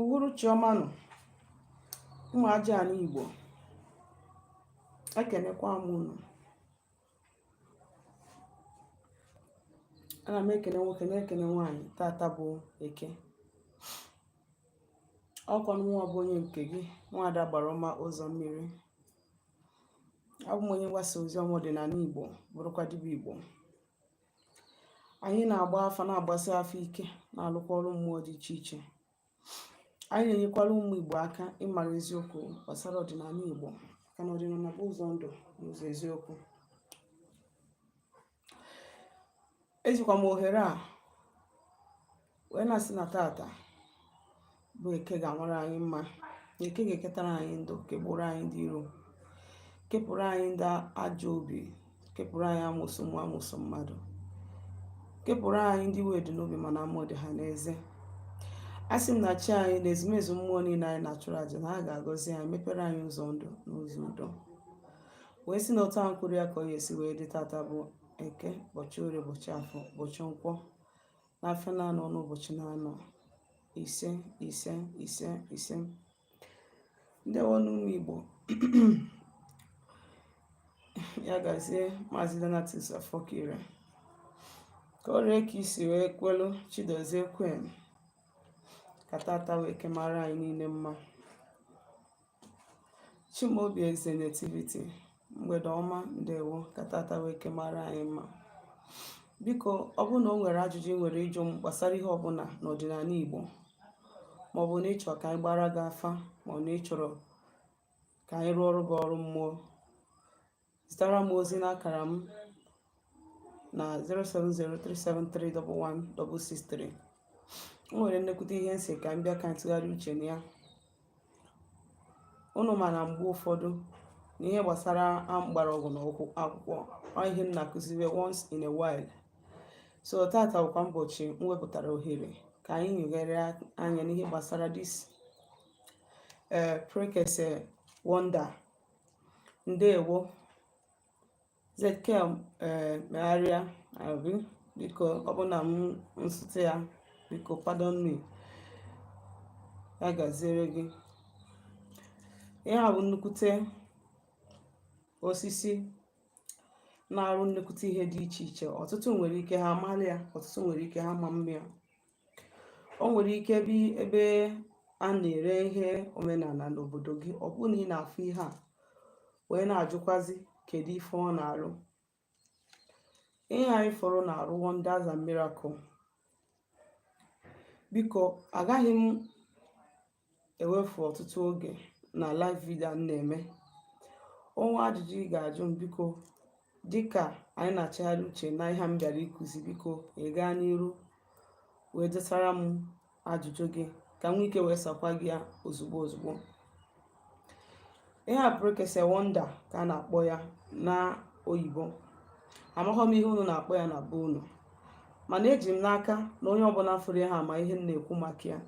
uhuruchi ọma nụ ụmụ aja ala Igbo ekenekwa m unu ana m ekene nwoke na-ekene nwaanyị tata bụ eke ọkwa mụnwa bụ onye nke gị nwaada Agbara ọma ụzọ mmiri abụ m onye mgbasa ozi ọma ọdịnala Igbo bụrụkwa dibịa Igbo anyị na-agba afa na-agbasi afa ike na-alụkwa ọrụ mmụọ dị iche iche anyị na-enyekwara ụmụ Igbo aka ịmara eziokwu gbasara ọdịnala Igbo maka na ọdịnala bụ ụzọ ndụ na ụzọ eziokwu ejikwa m ohere a wee na-asị na tata bụ eke ga-amara anyị mma na eke ga-eketara anyị ndụ kepụrụ anyị ndị iro kepụrụ anyị ndị ajọ obi kepụrụ anyị amusu mmụọ amusu mmadụ kepụrụ anyị ndị iwe dị n'obi mana amụ dị ha n'eze asị m na chi anyị na ezumezu mmụọ niile anyị na-achụrụ aja na ha ga-agọzi anyị mepere anyị ụzọ ndụ na ụzọ udo wee sị na otu ahụ kwuru ya ka ọ ga-esi wee dị tata bụ eke ụbọchị orie ụbọchị afọ ụbọchị nkwọ n'afịa na-anọ n'ụbọchị na-anọ ise ise ise ise ndewo nụ ụmụ igbo ya gazie maazị donatus afọkire ka o ree ka i si wee kwelu chidozie kwen ka tata wee kemara anyị niile mma Chimaobi Eze Nativity mgbede ọma ndewo ka tata wee ke mara anyị mma biko ọ bụrụ na o nwere ajụjụ ị nwere ịjụ m gbasara ihe ọbụla n'ọdịnala Igbo maọbụ na ị chọrọ ka anyị gbara gị afa maọbụ na ị chọrọ ka anyị rụọrọ gị ọrụ mmụọ zitara m ozi n'akara m na 07037311163 o nwere nnekwute ihe m sị ka m bịa ka m tụgharịa uche na ya unu ma na mgbe ụfọdụ na ihe gbasara mgbọrọgwụ na akwụkwọ ọ ihe m na-akụziwe once in a while so tata bụkwa ụbọchị m wepụtara ohere ka anyị nyegharịa anya n'ihe gbasara this eh, prekese wonder ndewo Ezekiel eh, megharịa abi biko ọ bụ na m nsụtụ ya biko pardon me ya gaziere gị ihe a bụ nnukwute osisi na-arụ nnukwute ihe dị iche iche ọtụtụ nwere ike ha amalị ya ọtụtụ nwere ike ha ama ma ya o nwere ike ebe ebe a na-ere ihe omenana n'obodo gị ọ bụrụ na ị na-afụ ihe a wee na-ajụkwazi kedu ife ọ na-arụ ihe anyị fụrụ na-arụ wonders and miracle biko agaghị m ewefu ọtụtụ oge na live video m na-eme o nwee ajụjụ ị ga-ajụ m biko dịka anyị na-achagharị uche na ihe m bịara ịkụzi biko ị gaa n'iru wee desara m ajụjụ gị ka m nwee ike wee sakwa gị ya ozugbo ozugbo ihe a prekese wonder ka a na-akpọ ya na oyibo amaghọ m ihe unu na-akpọ ya na be unu mana eji m n'aka na onye ọbụna fụrụ ya ha ma ihe m na-ekwu maka ya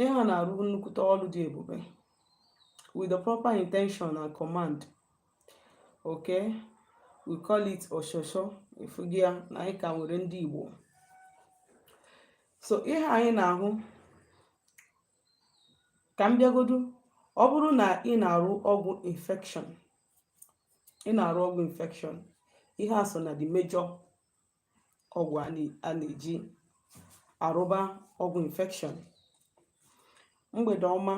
ihe a na-arụ nnukwute ọrụ dị ebube with the proper intention and command okay we call it oshosho ị fụghị ya na anyị ka nwere ndị Igbo so ihe anyị na-ahụ ka m bịagodu ọ bụrụ na ị na-arụ ọgwụ infection ị na-arụ ọgwụ infection ihe a so na the major ọgwụ a na-eji arụba ọgwụ infection mgbede ọma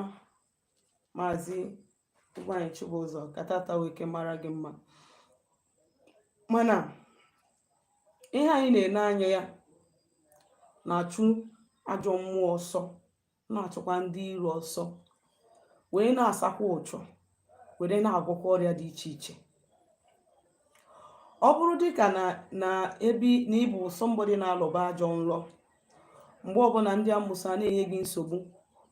maazị Ugwuanyị Chibụzọ ka taata nwee ike mara gị mma mana ihe anyị na-ene anya ya na-achụ ajọ mmụọ ọsọ na-achụkwa ndị iro ọsọ wee na-asakwa ụchụ were na-agwọkwa ọrịa dị iche iche ọ bụrụ dịka na na ebe na ị bụ somebody na-alọba ajọ nlọ mgbe ọbụna ndị amụsụ a na-enye gị nsogbu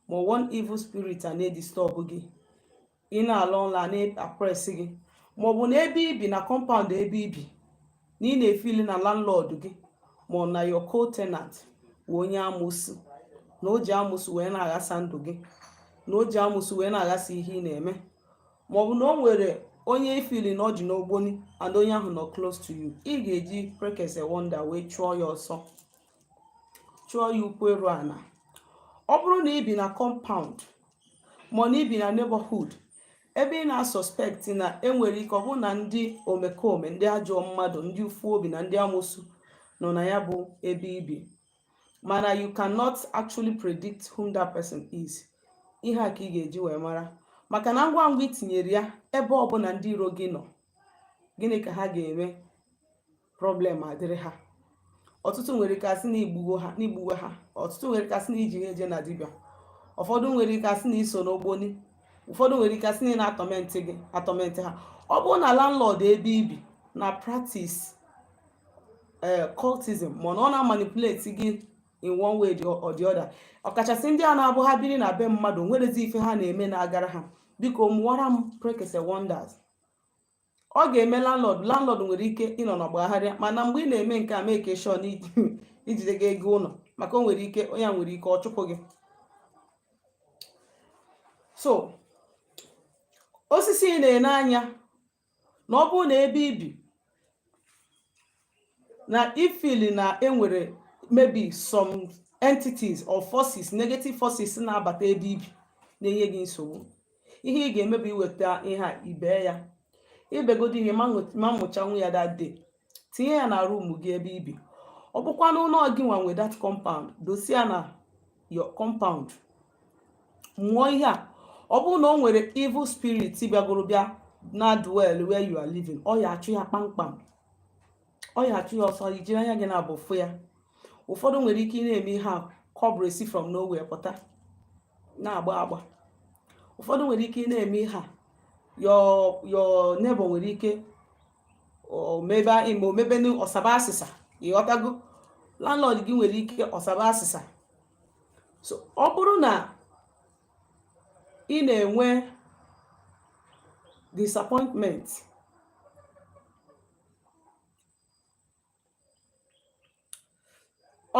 ma one evil spirit a na-edistọbụ gị ị na-ala ụla a na-apres gị maọbụ na ebe i bi na compound ebe i bi na ị na-efili na landlord gị ma ọ na your co-tenant wụ onye amụsụ na o ji amụsụ wee na-aghasa ndụ gị na o ji amụsụ wee na-aghasa ihe ị na-eme maọbụ na o nwere onye i fili na ọ dị n'ogboni and onye ahụ nọ close to you ị ga-eji prekese wonder wee chụọ ya ọsọ chụọ ya ukwu eru ana ọ bụrụ na i bi na compound ma ọ na i bi na neighborhood ebe ị na-asọspekti na e nwere ike ọ bụ na ndị omekome ndị ajọ mmadụ ndị ufu obi na ndị amụsụ nọ na ya bụ ebe i bi mana you cannot actually predict whom that person is ihe a ka ị ga-eji wee mara maka na ngwa ngwa i tinyere ya ebe ọbụna ndị iro gị nọ gịnị ka ha ga-eme problem adịrị ha ọtụtụ nwere ike asị na igbuwo ha n'igbuwe ha ọtụtụ nwere ike asị na iji ha eje na dibịa ụfọdụ nwere ike asị na iso n'ogboni ụfọdụ nwere ike asị na ị na-atọmentị gị atọmentị ha ọ bụrụ na landlord ebe ibi na practice eh, cultism ma na ọ na-amanipulate gị in one way or the other ọkachasị ndị a na-abụ ha biri na be mmadụ nwerezi ife ha na-eme na-agara ha biko mụwara m prekese wonders ọ ga-eme landlord landlord nwere ike ịnọ n'ọgbagharịa mana mgbe ị na-eme nke a make sure na ijide gị ego ụlọ maka o nwere ike onye a nwere ike ọ chụpụ gị so osisi ị na-ene anya na ọ bụrụ na ebe ibi na ifili na enwere maybe some entities or forces negative forces na-abata ebe ibi na-enye gị nsogbu ihe ị ga-eme bụ iweta ihe a ibee ya ibegodo ihe ma nwe- ma mụchanwu ya that day tinye ya na room gị ebe ibi ọ bụkwa na ọ gị nwa nwe that compound dosie ya na your compound mụọ ihe a ọ bụrụ na o nwere evil spirit bịagoro bịa na dwell where you are living ọ ya achụ ya kpamkpam ọ ya achụ ya ọsọ ijiri anya gị naabọ fụ ya ụfọdụ nwere ike ị na-eme ihe a cobra esi from nowhere pụta na-agba agba ụfọdụ nwere ike ị na-eme ihe a your neighbor nwere ike omebe ime omebe ọsaba asịsa ịghọtago landlord gị nwere ike ọsaba asịsa so ọ bụrụ na ị na-enwe disappointment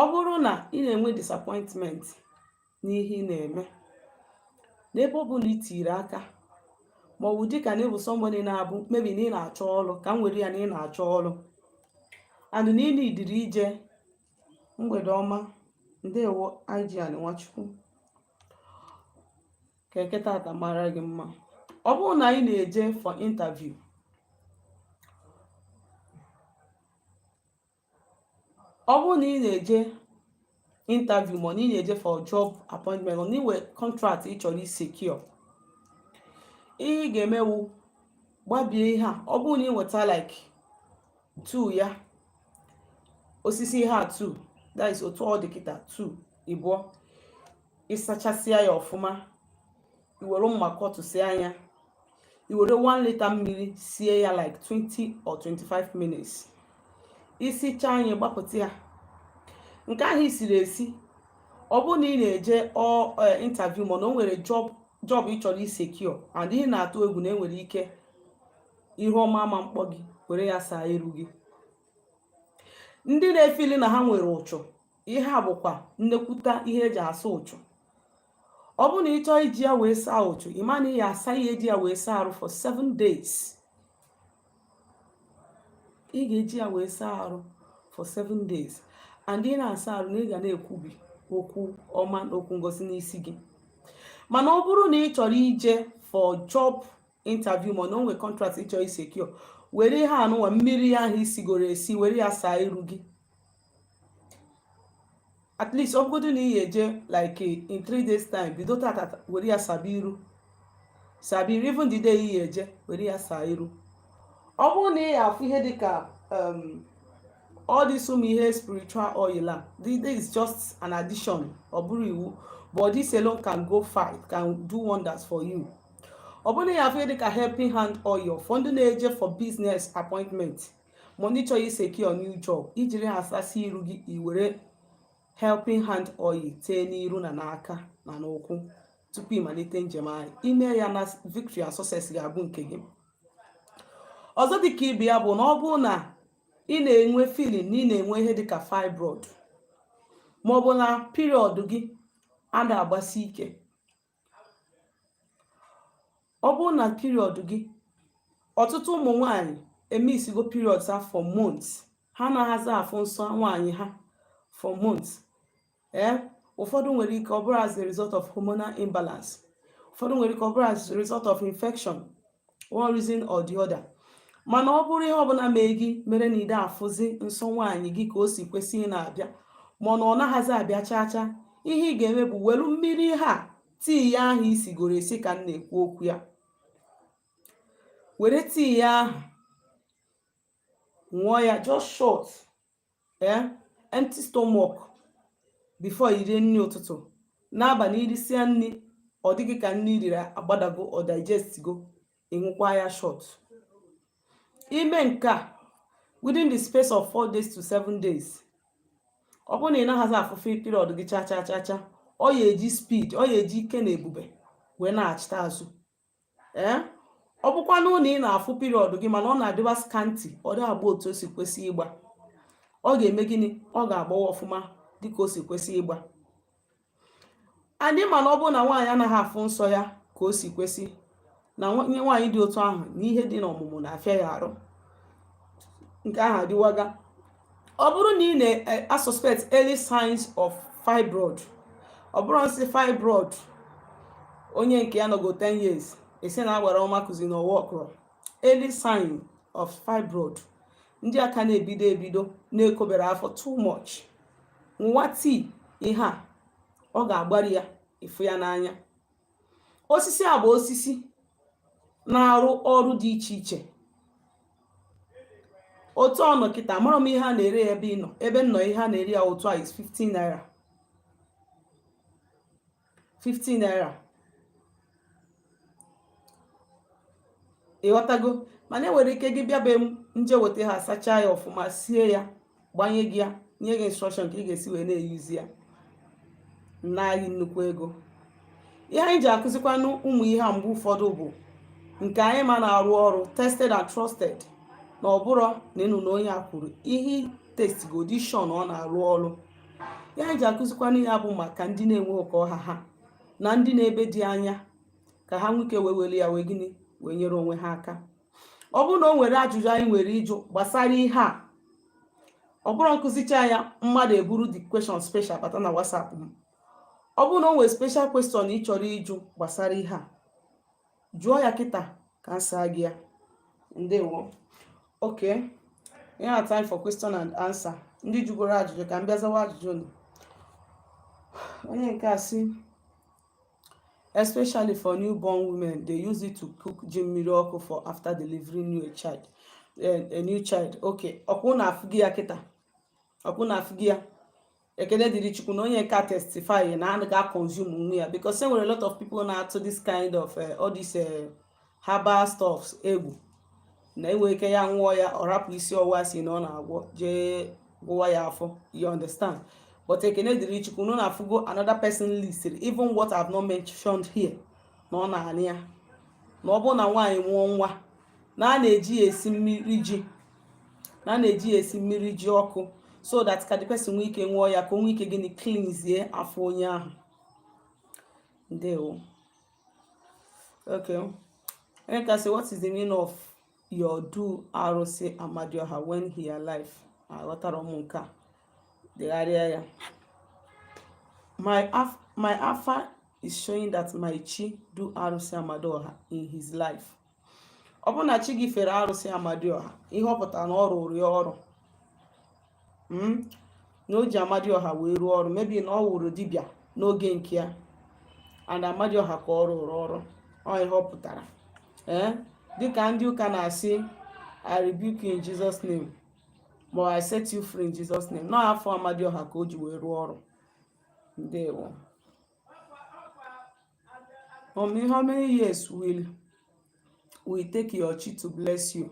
ọ bụrụ na ị na-enwe disappointment n'ihe ị na-eme n'ebe ọ bụla itiri aka ma ọ bụ dịka na ịbụ somebody na-abụ maybe na ị na-achọ ọrụ ka m were ya na ị na-achọ ọrụ and na ị na-idiri ije mgbede ọma ndewo Eugene Nwachukwu ka eke tata mara gị mma ọ bụrụ na ị na-eje for interview ọ bụrụ na ị na-eje interview ma na ị na-eje for job appointment na inwe contract ị chọrọ isecure ihe ị ga-eme wụ gbabie ihe a ọ bụrụ na ị weta like 2 ya osisi ihe a 2 that is otu ọ dị kịta 2 ịbụọ ịsachasịa ya ọfụma iwere mma kọtụsịa ya iwere 1 litre mmiri sie ya like 20 or 25 minutes isichaa ya gbapụta ya nke ahụ isiri esi ọ bụrụ na ị na-eje e, interview ma na o nwere job job ị chọrọ isecure and ị na-atụ egwu na enwere ike ihe ọma ama mkpọ gị were ya saa iru gị ndị na-efili na ha nwere ụchụ ihe a bụkwa nnekwuta ihe eji asa ụchụ ọ bụrụ na ị chọọ iji ya wee saa ụchụ ị ma na ị ya asa ị ya eji ya wee saa arụ for seven days ị ga-eji ya wee saa arụ for seven days and ị na-asa arụ na ị ga na-ekwubi okwu ọma na okwu ngọzi n'isi gị mana ọ bụrụ na ị chọrọ ije for job interview ma ọ na o nwee contract ị chọọ isecure were ihe anụnwa mmiri ahụ i sigoro esi were ya saa iru gị at least ọ bụgodu na ị ya eje like in three days time bido tata were ya saba iru saba iru even the day ị ya eje were ya saa iru ọ bụrụ na ị ya afụ ihe dịka um, all this ụmụ ihe spiritual oil a this this is just an addition ọ bụrọ iwu but this alone can go far it can do wonders for you ọ bụrụ na ị ya afụ ihe dị ka helping hand oil for ndị na-eje for business appointment ma ndị chọrọ isecure new job ijiri ha asasị iru gị iwere helping hand oil tee n'iru na n'aka na n'ụkwụ tupu ị malite njem and ị mee ya na victory and success ga-abụ nke gị ọzọ dịka ibe ya bụ na ọ bụrụ na ị na-enwe feeling na ị na-enwe ihe dịka fibroid maọbụ na period gị ada agbasi ike ọ bụrụ na period gị ọtụtụ ụmụ nwanyị emisigo period ha for months ha anahazi afụ nsọ nwaanyị ha for months ee eh, ụfọdụ nwere ike ọ bụrụ as a result of hormonal imbalance ụfọdụ nwere ike ọ bụrụ as a result of infection one reason or the other mana ọ bụrụ ihe ọbụla mee gị mere na ị dị afụzi nsọ nwaanyị gị ka o si kwesị ịna-abịa mana ọ naghịzi abịa chaa chaa ihe ị ga-eme bụ welu mmiri ihe a tea ahụ i sigoro esi ka m na-ekwu okwu ya were tea ahụ ṅụọ ya just shot ee empty stomach before i rie nri ụtụtụ n'abalị i risịa nri ọ dị gị ka nri i riri agbadago ọ digestigo ị ṅụkwa ya shot i mee nke a within the space of four days to seven days ọ bụrụ na ị naghịzi afụfe period gị cha cha cha cha ọ ya eji speed ọ ya eji ike na ebube wee nachịta azụ ee eh? ọ bụkwa na ị na-afụ period gị mana ọ na-adịwa scanty ọ dị agba otu o si kwesị ịgba ọ ga-eme gịnị ọ ga-agbawa ọfụma dịka o si kwesị ịgba and ị ma na ọ bụrụ na nwaanyị anaghị afụ nsọ ya ka o si kwesị na onye nwaanyị dị otu ahụ na ihe dị n'ọmụmụ na-afịa ya arụ nke ahụ adịwaga ọ bụrụ na ị na-asuspect eh, early signs of fibroid ọ bụrụ m sị fibroid onye nke ya nọgo 10 years esi na agbara ọma kụzi na ọwa ọkụrọ early sign of fibroid ndị a ka na-ebido ebido na-ekobere afọ too much nwụwa tea ihe a ọ ga-agbari ya ị fụ ya n'anya osisi a bụ osisi na-arụ ọrụ dị iche iche otu ọ nọ kịta amara m ihe a na-ere ya ebe ị nọ ebe m nọ ihe a na-ere ya otu a is 50 naira 50 naira ị ghọtago mana e nwere ike gị bịa be m m jee weta ha sachaa ya ọfụma sie ya gbanye gị ya nye gị instruction ka ị ga-esi wee na-eyuzi ya naa gị nnukwu ego ihe anyị ji akụzikwanụ ụmụ ihe a mgbe ụfọdụ bụ nke anyị ma na-arụ ọrụ tested and trusted na ọ bụrụ na ị nụ na onye a kwuru ihe testgo dị sure na ọ na-arụ ọrụ ihe anyị ji akụzikwanụ ya bụ maka ndị na-enwerọ ka ọ ha ha na ndị nọ ebe dị anya ka ha nwee ike wee were ya wee gịnị wee nyere onwe ha aka ọ bụrụ na o nwere ajụjụ anyị nwere ịjụ gbasara ihe a ọ bụrọ m kụzicha ya mmadụ eburu the question special bata na WhatsApp m ọ bụrụ na o nwere special question ị chọrọ ịjụ gbasara ihe a jụọ ya kịta ka m saa gị ya ndewo okay yeah time for question and answer ndị jụgoro ajụjụ ka m bịa zawa ajụjụ unu onye nke a sị especially for newborn women they use it to cook ji mmiri ọkụ for after delivering new child eh, a new child okay ọkwa unu afụgo ya kịta ọkwa unu afụgo ya ekene dịrị chukwu na onye nke a testify na a ga-aconsumenwu ya because e nwere a lot of people na-atụ this kind of eh, all this eh, herbal stuffs egwu na e nwe ike ya nwụọ ya ọ rapụ isi ọwụwa a sị na ọ na-agwọ jee gwụwa ya afọ you understand but ekene dịrị chukwu na unu afụgo another person list even what I've not mentioned here na ọ na-anụ ya na ọ bụrụ na nwaanyị mụọ nwa na a na-eji ya esi mmiri ji na a na-eji ya esi mmiri ji ọkụ so that ka the person nwee ike nwụọ ya ka o nwee ike gịnị cleanzie afọ onye ahụ ndewo Okay. Onye nke a say, what is the meaning of your do arụsị Amadioha when he alive? Aghọtara m nke a. Degharịa ya. My af my afa is showing that my chi do arụsị Amadioha in his life. ọ bụ na chi gị fere arụsị amadioha ihe ọ pụtara na ọ rụrụ ya ọrụ hmm? na o ji amadioha wee rụọ ọrụ maybe na ọ wụrụ dibịa n'oge nke ya and amadioha ka ọ rụrụ ọrụ ọ ihe ọ pụtara ee eh? dịka ndị ụka na-asị i rebuke in jesus name ma i set you free in jesus name na ọ afa amadioha ka o ji wee rụọ ọrụ ndewo Mommy, how many years will it take your chi to bless you?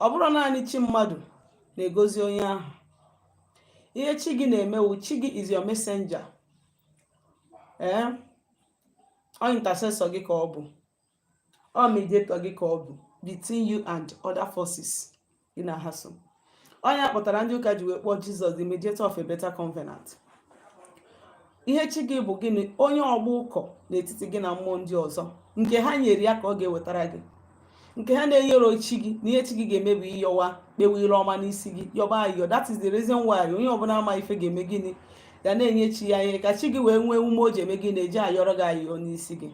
Ọ bụrụ naanị chi mmadụ na-egozi onye ahụ. Ihe chi gị na-eme wụ chi gị is your messenger. Ee, eh? ọ intercessor gị ka ọ bụ. ọ mediator gị ka ọ bụ between you and other forces gị na ha so ọ nya kpatara ndị ụka ji wee kpọọ jesus the mediator of a better covenant ihe chi gị bụ gịnị onye ọgba ụkọ n'etiti gị na mmụọ ndị ọzọ nke ha nyere ya ka ọ ga-ewetara gị nke ha na-enyerọ chi gị na ihe chi gị ga-eme bụ ịyọwa kpewe ire ọma n'isi gị yọba ayọ that is the reason why onye ọbụla ma ife ga-eme gịnị ga na-enye chi ya ihe ka chi gị wee nwee ume o ji eme gịnị o ji ayọrọ gị ayọ n'isi gị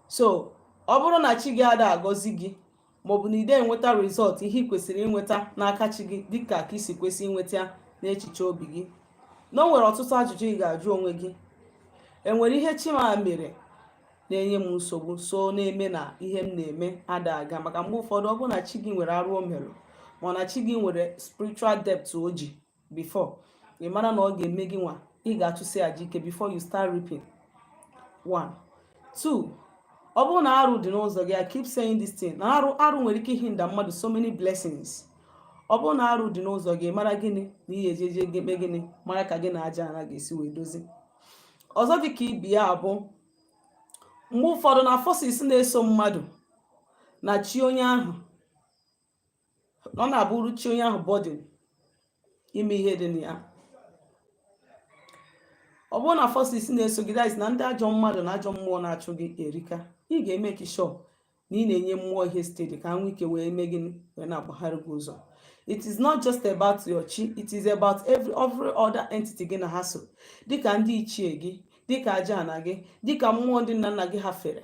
so ọ bụrụ na chi gị ada agọzi gị maọbụ na ị de enweta result ihe ị kwesịrị inweta n'aka chi gị dịka ka i si kwesị inweta n'echiche obi gị na o nwere ọtụtụ ajụjụ ị ga-ajụ onwe gị enwere ihe chi m a mere na-enye m nsogbu so na-eme na ihe m na-eme ada aga maka mgbe ụfọdụ ọ bụrụ na chi gị nwere arụ o mere ma na chi gị nwere spiritual debt o ji before ị mara na ọ ga-eme gị nwa ị ga-achụsi aja ike before you start reaping one two ọ bụrụ na arụ dị n'ụzọ gị I keep saying this thing na arụ arụ nwere ike i hinder mmadụ so many blessings ọ bụrụ na arụ dị n'ụzọ gị mara gịnị na ihe ejeje gị eme gịnị mara ka gị na aja ana ga-esi wee dozi ọzọ dị ka ibe ya bụ mgbe ụfọdụ na forces na-eso mmadụ na chi onye ahụ ọ na-abụrụ chi onye ahụ burden ime ihe dị na ya ọ bụrụ na forces na-eso gị that is na ndị ajọ mmadụ na ajọ mmụọ na-achụ gị erika ị ga-emake sure na ị na-enye mmụọ ihe steady ka nwee ike wee mee gịnị wee na-agbagharị gị ụzọ it is not just about your chi it is about every every other entity gị na ha so dịka ndị ichie gị dịka aja ana gị dịka mmụọ ndị nna nna gị ha fere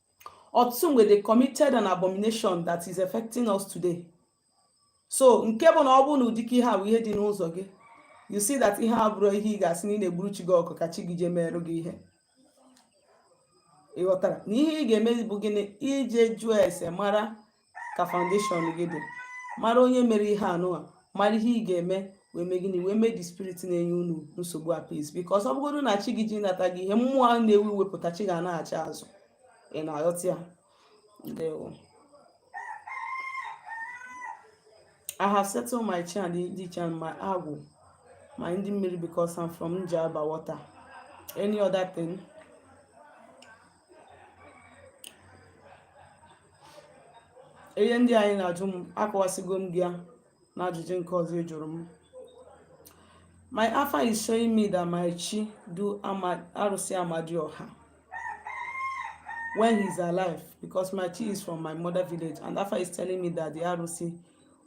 ọtụtụ mgbe they committed an abomination that is affecting us today so nke bụ na ọ bụ na ụdịka ihe a bụ ihe dị n'ụzọ gị you see that ihe a bụrụ ihe ị ga-asị na ị na-egburu chi gị ọkụkọ ka chi gị jee merụ gị ihe ị ghọtara na ihe ị ga-eme bụ gịnị ije jụọ ese mara ka foundation gị dị mara onye mere ihe anụwa mara ihe ị ga-eme wee mee gịnị wee mee the spirit na-enye unu nsogbu appease because ọ bụgodu na chi gị ji nata gị ihe mmụọ ahụ na-ewu iwe pụta chi gị na-achị azụ ị na-aghọta ya ndewo I have settled my chi ndị ichie my agwụ my ndị mmiri because I'm from Njaba water any other thing ihe ndị a ị na-ajụ m akọwasịgo m gị ya na ajụjụ nke ọzọ ị jụrụ m my afa is showing me that my chi do arụsị amadioha when he's alive because my chi is from my mother village and afa is telling me that the arụsị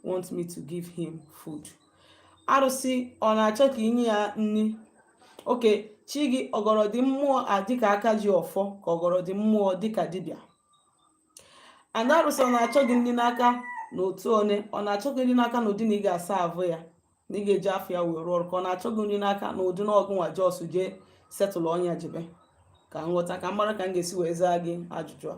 wants me to give him food arụsị ọ na-achọ ka i nye ya nri okay chi gị ọ gọrọdị mmụọ a dịka aka ji ọfọ ka ọ gọrọdị mmụọ dịka dibịa and arụsị ọ na-achọ gị nri n'aka na otu one ọ na-achọ gị nri n'aka na ụdị na ị ga-serve ya na ị ga-eji ọfọ ya wee rụọ ọrụ ka ọ na-achọ gị nri n'aka na ụdị na ọgụ nwa jọs jee setụlụ ọnya jebe ka m ghọta ka m mara ka m ga-esi wee zaa gị ajụjụ a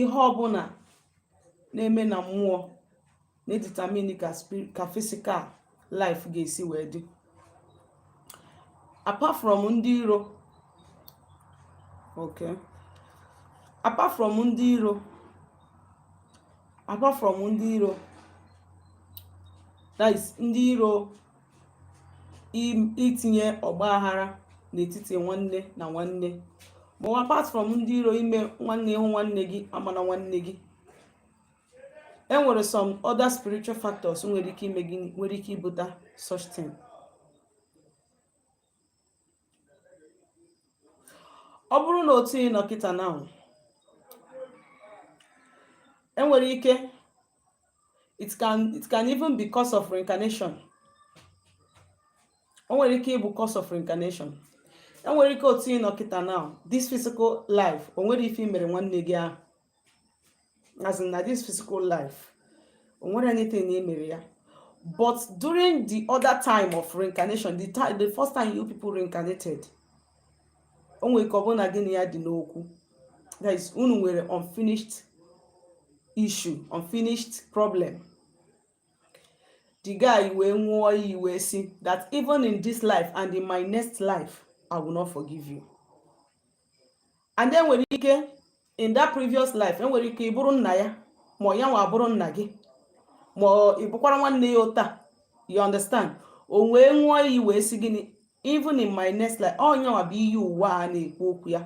ihe ọbụla na-eme na mmụọ na-determine ka physical life ga-esi wee dị apart from ndị iro okay apart from ndị iro apart from ndị iro that is ndị iro itinye ọgba aghara n'etiti nwanne na nwanne ma ọ apart from ndị iro ime nwanne ị hụ nwanne gị amana nwanne gị e nwere some other spiritual factors nwere ike ime gị nwere ike ibute such thing ọ bụrụ na otu ị nọ kịta now e nwere ike it can it can even be cause of reincarnation o nwere ike ịbụ cause of reincarnation e nwere ike otu ị nọ kịta now this physical life o nwerọ ife i mere nwanne gị ahụ as in na this physical life o nwerọ anything na i mere ya but during the other time of reincarnation the time the first time you people reincarnated o nwere ike ọ bụrụ na gị na ya dị n'okwu that is unu nwere unfinished issue unfinished problem the guy wee ṅụọ iyi wee sị that even in this life and in my next life i will not forgive you and then nwere ike in that previous life enwere ike ịbụrụ nna ya ma ya nwa abụrụ nna gị ma ị bụkwara nwanne ya ụta you understand o wee ṅụọ iyi wee sị gịnị even in my next life ọ ya nwa bụ iyi ụwa a na-ekwu okwu ya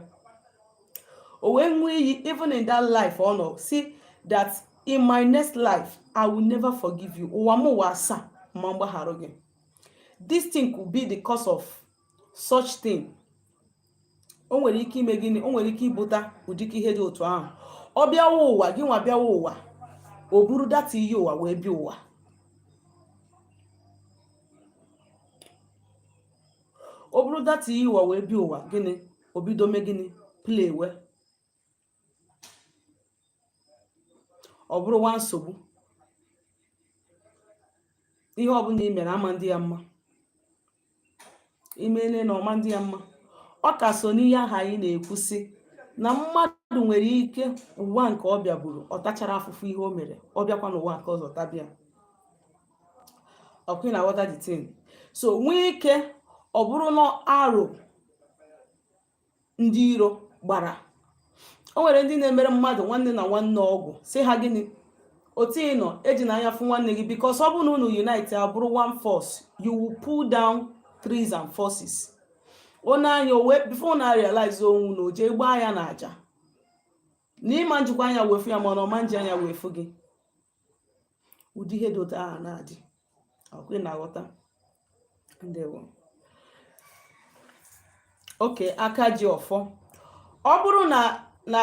o wee ṅụọ iyi even in that life ọ nọ sị that in my next life i will never forgive you ụwa m ụwa asaa ama m gbaghara gị this thing could be the cause of such thing o nwere ike ime gịnị o nwere ike ibuta ụdịka ihe dị otu ahụ ọ bịawa ụwa gị nwa bịawa ụwa o buru that iyi ụwa wee bịa ụwa o buru that iyi ụwa wee bịa ụwa gịnị o bido me gịnị playwe ọ bụrụ nwa nsogbu ihe ọbụla i mere ama ndị ya mma imele na ọ ma ndị ya mma ọ ka so n'ihe ahụ anyị na-ekwusị na mmadụ nwere ike ụwa nke ọ bịaburu ọ tachara afụfụ ihe o mere ọ bịakwa n'ụwa nke ọzọ taba ya ọkwa ị na-aghọta the thing so nwee ike ọ bụrụ na aro ndị iro gbara o nwere ndị na-emere mmadụ nwanne na nwanne ọgwụ sị ha gịnị otu ị nọ ejina anya fụ nwanne gị because ọ bụrụ na unu unite abụrụ one force you will pull down trees and forces onye anya owe before unu a realize onwe unu o je gbaa ya n'aja na ị ma njikwa anya wee fụ ya mana ọ ma nji anya wee fụ gị ụdị ihe dị otu ahụ na-adị ọkwa ị na-aghọta ndewo okay aka ji ọfọ ọ bụrụ na na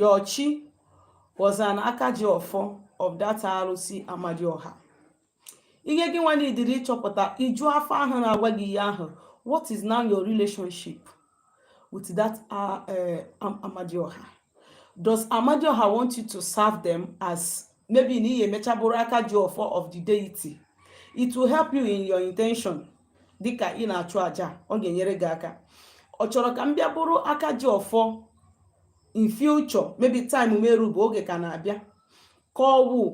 your chi was an aka ji ọfọ of that arụsị amadioha ihe gị nwa needịrị ịchọpụta ị jụọ afa ahụ na-agwa gị ihe ahụ what is now your relationship with that uh, uh, amadioha does amadioha want you to serve them as maybe na ị ya-emecha bụrụ aka ji ọfọ of the deity it will help you in your intention dịka ị na-achụ aja ọ ga-enyere gị aka ọ chọrọ ka m bịa bụrụ aka ji ọfọ in future maybe time erube oge ka na-abịa ka ọ wụ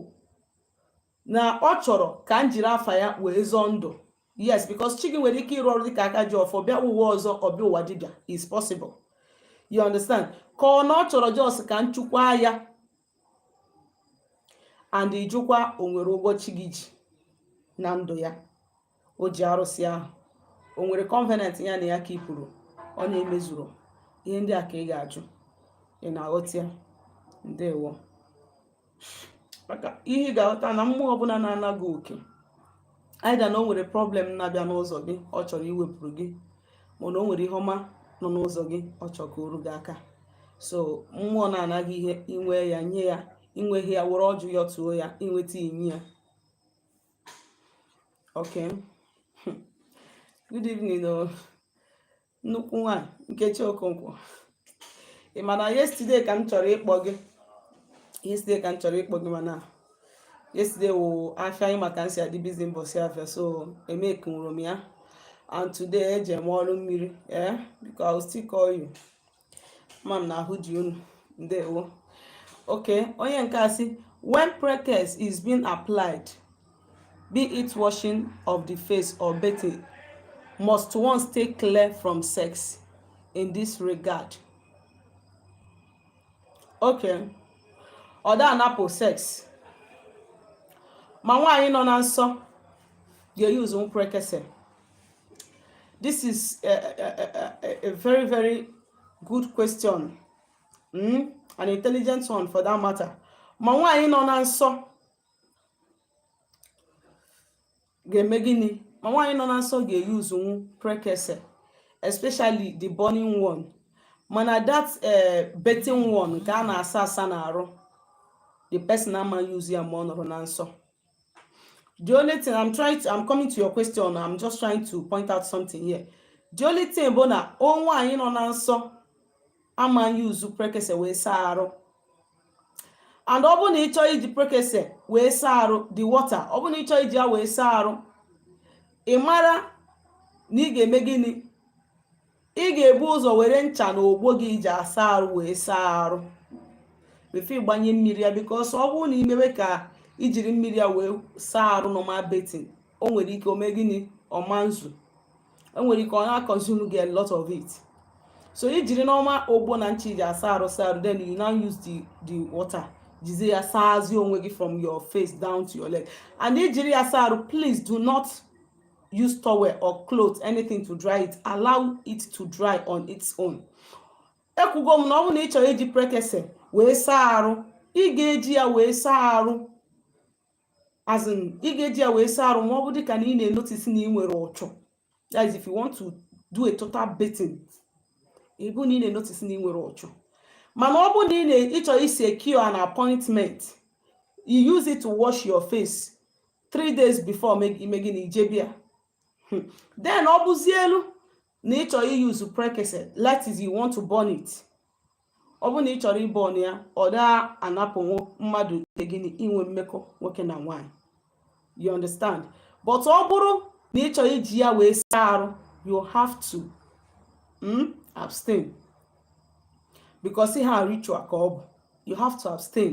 na ọ chọrọ ka m jiri afa ya wee zọọ ndụ yes because chi gị nwere ike ịrụ ọrụ dịka aka ji ọfọ bịa ụwa ọzọ ọ bịa ụwa dibịa is possible you understand ka ọ na ọ chọrọ just ka m chụkwa ya and ị jụkwa o nwere ụgwọ chi gị ji na ndụ ya o ji arụsị ahụ o nwere covenant ya na ya ka ị kwuru ọ na-emezuru ihe ndị a ka ị ga-ajụ ị na-aghọta ya ndewo maka ihe ị ga-aghọta na mmụọ ọbụla na-ana gị oke either na o nwere problem na-abịa n'ụzọ gị ọ chọrọ iwepụrụ gị mana o nwere ihe ọma nọ n'ụzọ gị ọ chọrọ ka o ru gị aka so mmụọ na-ana gị ihe i nwee ya nye ya i nweghị ya were ọjị yọtụọ ya i nweta i nye ya Okay. Good evening, oh. Nnukwu nwaanyị Nkechi Okonkwo. Ị ma na yesterday ka m chọrọ ịkpọ gị. Yesterday ka m chọrọ ịkpọ gị mana yesterday wụ afịa anyị maka nsị adị busy mbọsị afịa so emekunwuro m ya. And today eje m ọrụ mmiri. Eh, because I will still call you. ma m na-ahụzi unu ndewo okay onye nke a sị when prekese is being applied be it washing of the face or bathing must one stay clear from sex in this regard okay ọ da anapụ sex ma nwaanyị nọ na nsọ ga-eyuzunwu prekese This is a, a, a, a very, very good question. Mm? An intelligent one for that matter. Ma nwaanyị nọ na nsọ ga-eme gịnị? Ma nwaanyị nọ na nsọ ga-eyuzunwu prekese especially the burning one. Mana that uh, eh, bathing one nke a na-asa asa n'arụ the person ama use ya ma ọ nọrọ na nsọ. The only thing I'm trying to, I'm coming to your question. I'm just trying to point out something here. The only thing bụ na o nwaanyị nọ na nsọ ama use prekese wee saa arụ and ọ bụrụ na ị chọọ iji prekese wee saa arụ the water ọ bụrụ na ị chọọ iji ya wee saa arụ ị mara na ị ga-eme gịnị ị ga-ebu ụzọ were ncha na ogbo gị i ji asa arụ wee saa arụ before ị gbanye mmiri ya because ọ bụrụ na i mewe ka i jiri mmiri ya wee saa arụ normal bathing o nwere ike o me gịnị ọ ma ezu o nwere ike ọ na-econsume gị a lot of it so i jiri normal ogbo na ncha i ji asa arụ saa arụ then you now use the the water jizie ya saazie onwe gị from your face down to your leg and i jiri ya saa arụ please do not use towel or cloth anything to dry it allow it to dry on its own ekwugo m na ọ bụrụ na ị chọrọ iji prekese wee saa arụ ị ga-eji ya wee saa arụ as in ị ga-eji ya wee saa arụ ma ọ bụ dịka na ị na-enotice na ị nwere uchu that is if you want to do a total bathing ọ bụ na ị na-enotice na ị nwere uchu mana ọ bụ na ị chọrọ isi secure an appointment you use it to wash your face three days before ime gịnị ije be ya hmm. then ọ bụzielu na ịchọrọ iyuzu prekese that is you want to burn it ọ bụ na ị chọrọ ịbọn ya ọ daa anapụ mmadụ ike gị inwe mmekọ nwoke na nwaanyị you understand but ọ bụrụ na ị chọrọ iji ya wee saa arụ you have to mm, abstain because ihe a ritual ka ọ bụ you have to abstain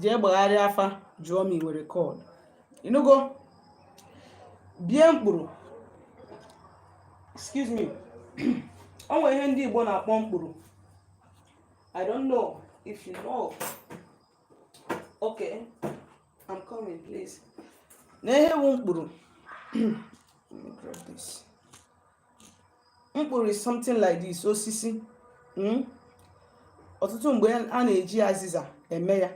jee gbagharịa afa jụọ ma ị nwere call ịnụgo bie mkpụrụ excuse me o nwere ihe ndị Igbo na-akpọ mkpụrụ I don't know if you know okay I'm coming please na ihe bụ mkpụrụ mkpụrụ is something like this osisi hmm? ọtụtụ mgbe a na-eji azịza eme ya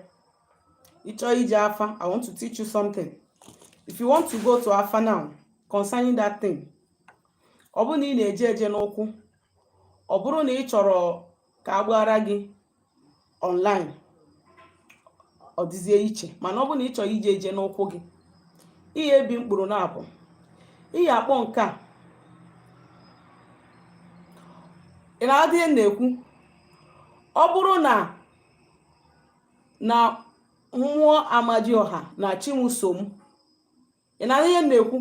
ịchọọ ije afa i want to teach you something if you want to go to afa now concerning that thing ọ bụrụ na ị na-eje eje n'ụkwụ ọ bụrụ na ị chọrọ ka a gbaara gị online ọ dịzie iche mana ọ bụrụ na ị chọrọ ije eje n'ụkwụ gị ị ya ebi mkpụrụ naabọ ị ya akpọ nke a ị na-adị na-ekwu ọ bụrụ na na mmụọ amadioha na chi m so m ị na-anụ ihe m na-ekwu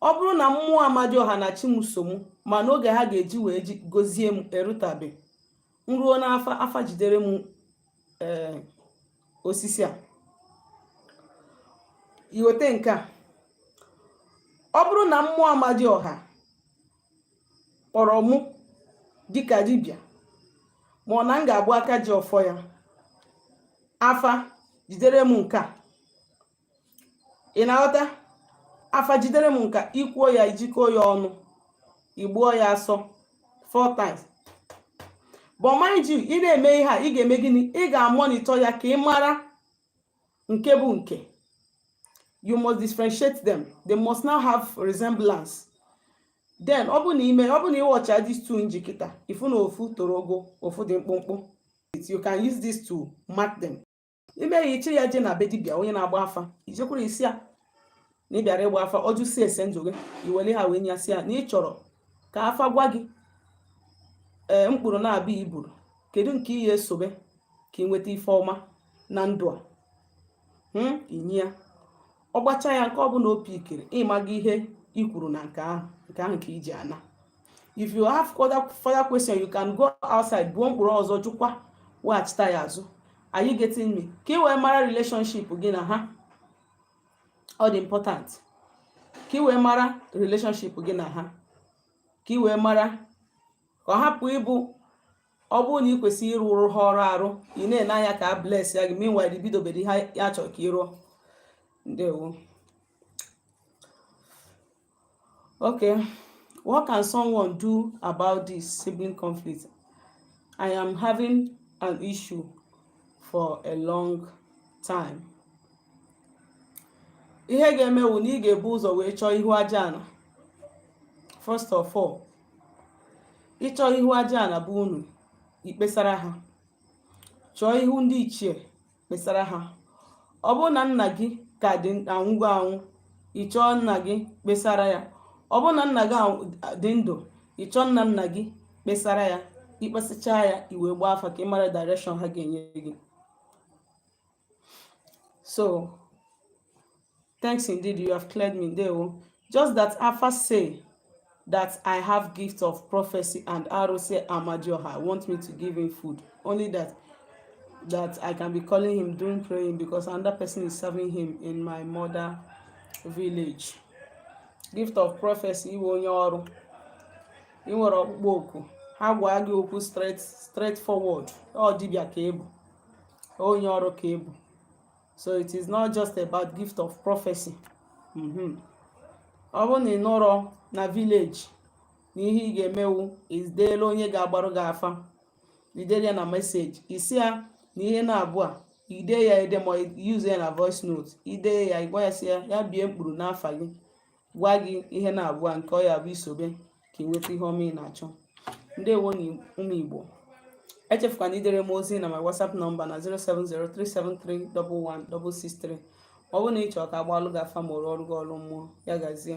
ọ bụrụ na mmụọ amadioha na chi m so m mana oge ha ga-eji wee gozie m erutabe m ruo n'afa afa jidere m eh, osisi a iweta nke a ọ bụrụ na mmụọ amadioha kpọrọ mụ dịka dibịa ma ọ na m ga-abụ aka ji ọfọ ya afa jidere m nke a ị na-aghọta afa jidere m nke a ikwuo ya ijikọọ ya ọnụ ịgbụọ ya asọ four times but mind you ị na-eme ihe a ị ga-eme gịnị ị ga-amonitọ ya ka ị mara nke bụ nke you must differentiate them they must not have resemblance then ọ bụ na ime ọ bụ na ịwọchịa these two m ji kịta ifu na ofu toro ogo ofu dị mkpụmkpụ you can use this to mark them ime ya ịchị ya je na be dibịa onye na-agba afa ijekwuru ịsị ya na ị bịara ịgba afa ọ jụsịa ese ndụ gị iwere ha wee nye ya sị ya na ị chọrọ ka afa gwa gị ee eh, mkpụrụ naabọ a iburu kedu nke ị ya esobe ka ị nweta ife ọma na ndụ a hmm? inye ya ọ gbacha ya nke ọbụna o pikiri ị maga ihe i kwuru na nke ahụ nke ahụ ka i ji ana if you have further further question you can go outside buo mkpụrụ ọzọ jụkwa weghachita ya azụ are you getting me ka ị wee mara relationship gị na ha ọ dị important ka ị wee mara relationship gị na ha ka ị wee mara ka ọ hapụ ịbụ ọ bụrụ na ị kwesịrị ịrụrụ ha ọrụ arụ ị na-ene anya ka a blessịa gị meanwhile i bidobere ihe a chọrọ ka ị rụọ ndewo okay what can someone do about this sibling conflict i am having an issue for a long time ihe ga-eme wụ na ị ga-ebu ụzọ wee chọọ ihu aja ana first of all ịchọ ihu aja ana bụ unu ikpesara ha chọọ ihu ndị ichie kpesara ha ọ bụrụ na nna gị ka dị anwụgo anwụ ị chọọ nna gị kpesara ya ọ bụrụ na nna gị dị ndụ ị chọọ nna nna gị kpesara ya i kpesachaa ya i wee gbaa afa ka ị mara direction ha ga-enye gị So, thanks indeed, you have cleared me there. Oh. Just that Alpha say that I have gift of prophecy and Arose Amadioha want me to give him food. Only that that I can be calling him doing praying because another person is serving him in my mother village. Gift of prophecy iwe onye ọrụ. Ị nwere ọkpụkpọ oku. Ha gwa gị okwu straight straight forward. Ọ dibịa ka ebu. onye ọrụ ka ị bụ so it is not just about gift of prophecy mm-hmm. ọ bụrụ na ị nọrọ na village na ihe ị ga-eme wụ i deela onye ga-agbarụ gị afa i dere ya na message ị sị ya na ihe n'abụa i dee ya ede ma use ya na voice note i dee ya ị gwa ya sị ya ya bie mkpụrụ n'afa gị gwa gị ihe n'abụa nke ọ ya-abụ i sobe ka ị nweta ihe ọma ị na-achọ ndewo nụ ụmụ igbo echefukwana idere m ozi na my whatsapp nọmba na 07037311663 ọ bụrụ na ị chọrọ ka a gbalụ gị afa ma rụọrụ gị ọrụ mmụọ ya gazie